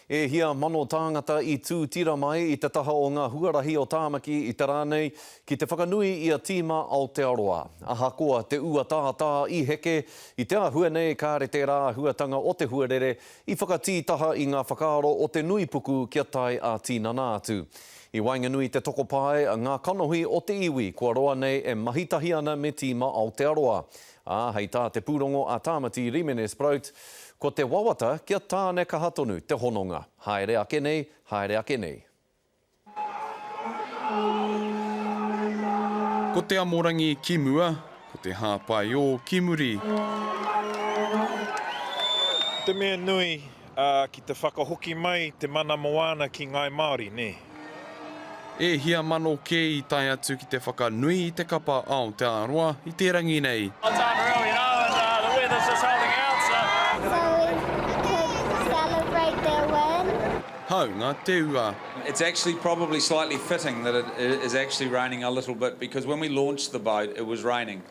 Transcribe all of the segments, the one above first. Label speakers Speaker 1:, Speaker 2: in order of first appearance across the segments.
Speaker 1: E hia mano tāngata i tū tira mai i te taha o ngā huarahi o Tāmaki i te rā nei ki te whakanui i a Tīma Aotearoa. Ahakoa te uatātā i heke, i te āhua nei kāre tērā āhuatanga o te huarere i whakatītaha i ngā whakaaro o te nui puku kia tae ā-tinana atu. I waenganui te tokopae, ngā kanohi o te iwi kua roa nei e mahi tahi ana me Tīma Aotearoa, Ā, hei tā te pūrongo a Tāmati Rimenes-Brout, Ko te wawata kia tāne kaha tonu te hononga, haere ake nei, haere ake nei.
Speaker 2: Ko te amorangi ki mua, ko te hāpaiō ki muri.
Speaker 3: Te mea nui, Ā, ki te whakahoki mai te mana moana ki Ngāi Māori, nē. E
Speaker 2: hia mano kē i tae atu ki te whakanui i te kapa Aotearoa i te rangi nei.
Speaker 4: Hāunga te
Speaker 2: ua. It's actually
Speaker 5: probably slightly fitting that it is actually raining a little bit because when we launched the boat it was raining.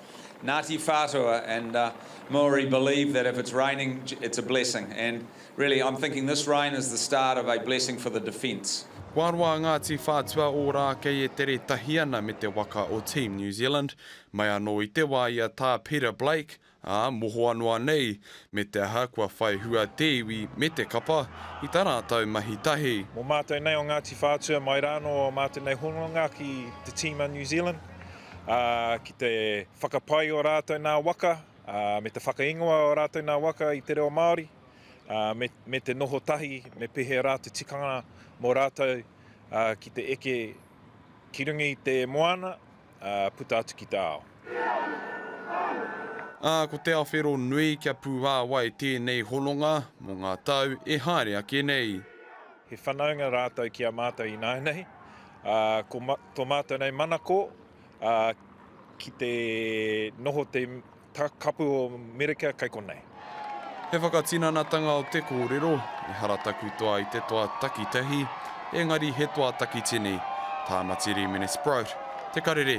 Speaker 5: Ngāti Whātua and Maori believe that if it's raining it's a blessing and really I'm thinking this rain is the start of a blessing for the defence. Kua roa a Ngāti
Speaker 2: Whātua ora kei e tere tahi ana me te waka o Team New Zealand, mai anō i te wā i a Tā Peter Blake, ā, mohoa noa nei, me te aha kua whai hua te iwi me te kapa i tā rātou mahi tahi. Mō mātou nei o Ngāti
Speaker 3: Whātua mai rānō mā tenei hononga ki te tīma New Zealand, ā, ki te whakapai o rātou nā waka, ā, me te whakaingoa o rātou nā waka i te reo Māori, ā, me, me te noho tahi me pēhērā te tikanga mō rātou, ā, ki te eke ki runga i te moana, ā, puta atu ki te ao.
Speaker 2: Ā, ko Te Awhero Nui kia pūāwai tēnei hononga mō ngā tau e haere ake nei. He whanaunga
Speaker 3: rātou ki a mātou ināianei, ā, ko ma, tō mātou nei manako, ā, ki te noho te ta, kapu o Mereka kei konei. He
Speaker 2: whakatinanatanga o te kōrero, ehara taku toa i te toa takitahi, engari he toa takitini, Tāmatiri Minnie Sprout, Te Karere.